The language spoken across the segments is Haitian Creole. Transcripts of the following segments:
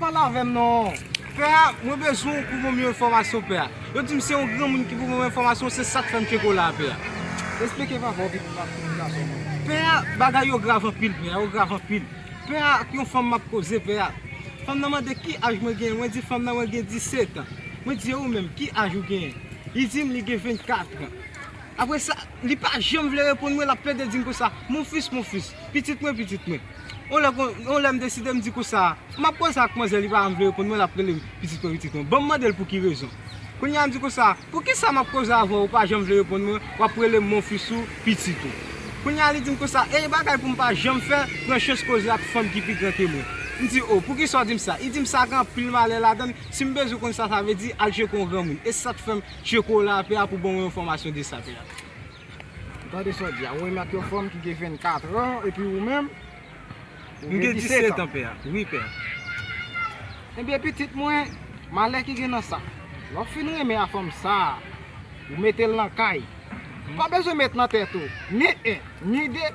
Pale avèm non. Pè a mwen bezwen w pou banm yon enfòmasyon pè a. Yo dim se yon granmoun ki pou banm enfòmasyon se sak fèm tcheko la a pè a. Esplike papa w pi pou map konnen gason mwen. Pè a bagay yo grav anpil pè a yo grav anpil. Pè a ak yon fanm map koze pè a. Fanm nan mande ki aj mwen genyen mwen di fanm nan mwen gen 17 an. Mwen di e ou menm ki aj ou genyen. Li dim li gen 24 an. Apre sa, li pa janm vle reponn mwen, l ap plede di m konsa, Mon fils, mon fils, pitit mwen, pitit mwen. Yon lè, yon lè m deside m di konsa, m ap koze ak manzè li pa janm vle reponn mwen, l ap rele m, pitit mwen, pitit mwen. Bon, m mande l pou ki rezon. Kounye a m di konsa, Poukisa m ap koze avè w, ou pa janm vle reponn mwen, w ap rele m mon fils ou pitit ou. Kounye a li di m konsa, e yon bagay pou m pa janm fè, pran chans koze ak fanm ki pi gran ke mwen. M di, O, poukisa w di m sa? Li di m, Sa gen anpil malè ladan l, si m bezwen konn sa sa vle di, al tcheke yon granmoun. E se sa k fè m. Tcheko la pè a pou ban ou yon fòmasyon de sa pè a. Ou tande sa w di a, ou menm ak yon fanm ki gen 24 ans epi ou menm ou gen 17 ans pè a. Wi pè a. Ebyen pitit mwen, malè ki gen nan sa. Lè w fin renmen a fanm sa, ou mete l nan kay. Ou pa bezwen met nan tèt ou ni 1, ni 2.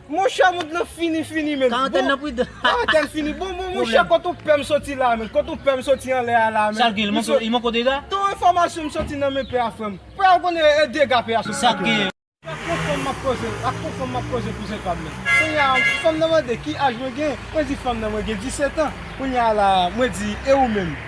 Monchè mond lan fini fini men. Karantèn nan pou. Karantèn fini bon bon monchè kot ou pèm soti la men kot ou pèm soti anlè a la men. Sak gen li manke w dega. Ton enfòmasyon m soti nan men pè a frèm. Pè a ou konnen e dega pè a soti. Sak gen. Ak yon fanm map koze ak yon fanm map koze kouzen pam nan. Kounye a fanm nan mande ki aj mwen gen mwen di fanm nan mwen gen 17 ans kounye a la mwen di e ou menm.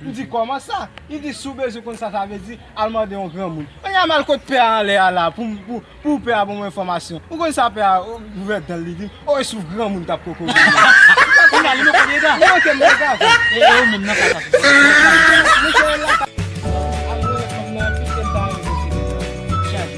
M di, Kòman sa? Li di, Si w bezwen konn sa sa vle di, al mande yon granmoun. Kounye a m al kot pè a anlè a la a pou pè a ban mwen enfòmasyon. Ou konn sa pè a ouvè dan l li di m, O e souf granmoun k ap kokobe m nan! Kounye a li manke m dega! Li manke m dega vre! E ou menm nan sa sa sou tèt ou? Mwen kwè l la ka. Al mwen renmen fanm nan anpil ke m ta renmen vin sou tèt ou.